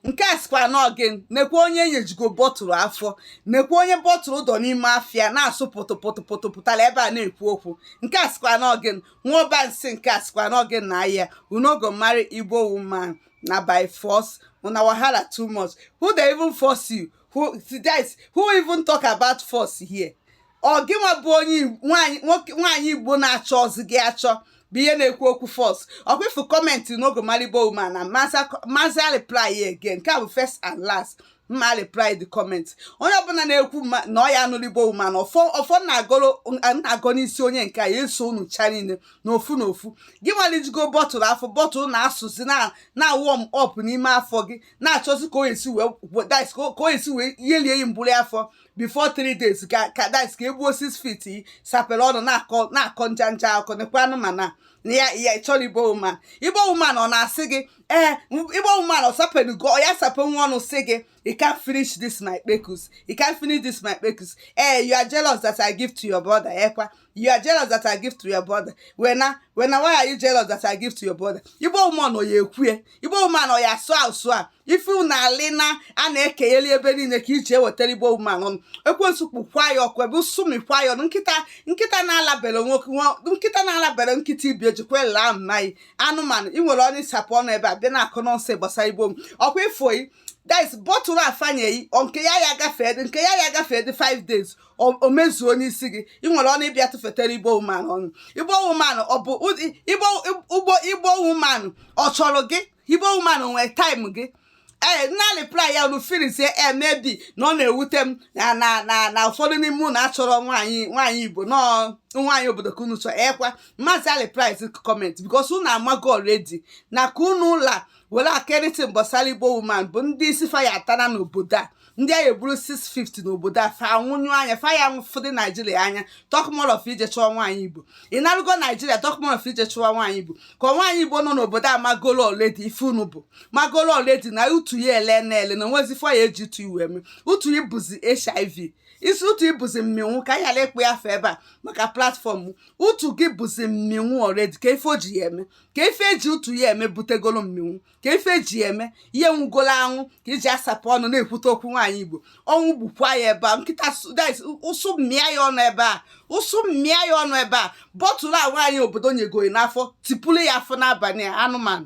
nke a sikwa n'ọgị nekwa onye enyejugo bọtụlụ afọ nekwa onye bọtụlụ dọ n'ime afọ ya na-asụ pụtụpụtụpụtụ pụtara ebe a na-ekwu okwu nke a sikwa n'ọgị nwụọba nsị nke a sikwa n'ọgị na ahịa you no go marry igbo woman na by force una wahala too much who dey even force you who, who even talk about force here ọ gịnwa bụ onye nwaanyị igbo na-achọzi gị achọ bụ ihe na-ekwu okwu force ọkwa ị fụ comment no go marry igbo woman m mazị reply again nke a bụ first and last mma reply the comment onye ọbụla na-ekwu na ọ ya anụlị igbo woman ọfọ na-agọ n'isi onye nke a ya eso unu cha niile na ofu na ofu gịnwa lijugo bọtụlụ afọ bọtụlụ na-asụzi na warm up n'ime afọ gị na-achọzi ka o esi wee ihe lie mbụli afọ before three days ka ka dice ka egbuo six feet sapere ọnụ na-akọ na-akọ ncha ncha akọ nekwa anụmanụ a na ya ya ị chọrọ igbo woman igbo woman ọ na-asị gị ee igbo woman ọ sapenugo ọ ya sape nwa ọnụ sị gị you can finish this my kpekus you can finish this my kpekus ee you are jealous that i give to your brother ekwa you are jealous that I give to your brother when I when I why are you jealous that I give to your brother Igbo woman ọ ya ekwue Igbo woman ọ ya asụ asụ a ife unu alị na a na-ekenyeli ebe niile ka ị ji ewetara Igbo woman ọnụ ekwensu kpọkwa ya ọkụ ebe ụsụ mịkwa ya ọnụ nkịta nkịta na-alabere nwoke nkịta na-alabere nkịta ibi ejikwa ele ahụ na anyị anụmanụ ị nwere ọnụ ịsapụ ọnụ ebe a bịa na-akọ nonsense gbasara Igbo ọkwa ifo yi that is bọtụlụ a fanye gị nke ya ya gafee nke ya ya gafee dị 5 days o mezuo n'isi gị ị nwere ọnụ ịbịa tụfetara igbo woman ọnụ igbo woman ọ bụ ụgbọ igbo woman ọ chọrọ gị igbo woman nwee time gị ee eh, m na-reply ya unu feelizie eh, maybe na ọ na-ewute m na na na na ụfọdụ n'ime unu achọrọ nwaanyị nwaanyị igbo n'ọọ nwaanyị obodo ka unu chọọ ekwa eh, m mazị reply comment because unu amago already na ka unu la were akịrịtị gbasara igbo woman bụ ndị isi fa ya atara n'obodo a ndị a ya egburu six feet n'obodo a fa anwụnyụ anya fa ya nwụ fụdị naijiria anya talk more of ije chụọ nwaanyị igbo ị narụgo naijiria talk more of ije chụọ nwaanyị igbo ka nwaanyị igbo nọ n'obodo a magolo already ife unu bụ magolo already na utu ya ele na ele na onwezi ife a ya eji utu ị wee eme utu ị bụzi hiv isi utu ị bụzi mminwụ ka anyị ghara ịkpọ ya afa ebe a maka platform utu gị bụzi mminwụ already ka ife o ji ya eme ka ife eji utu ya eme butegolo mminwụ ka ife eji ya eme ihe nwụgolo anwụ ka ị ji asapụ ọnụ na-ekwute okwu nwaanyị igbo ọnwụ gbukwa ya ebe a nkịta ụsụ mịa ya ọnụ ebe a ụsụ mịa ya ọnụ ebe a bọtụlụ a nwaanyị obodo nyego gị n'afọ tipụrụ ya afọ n'abalị anụmanụ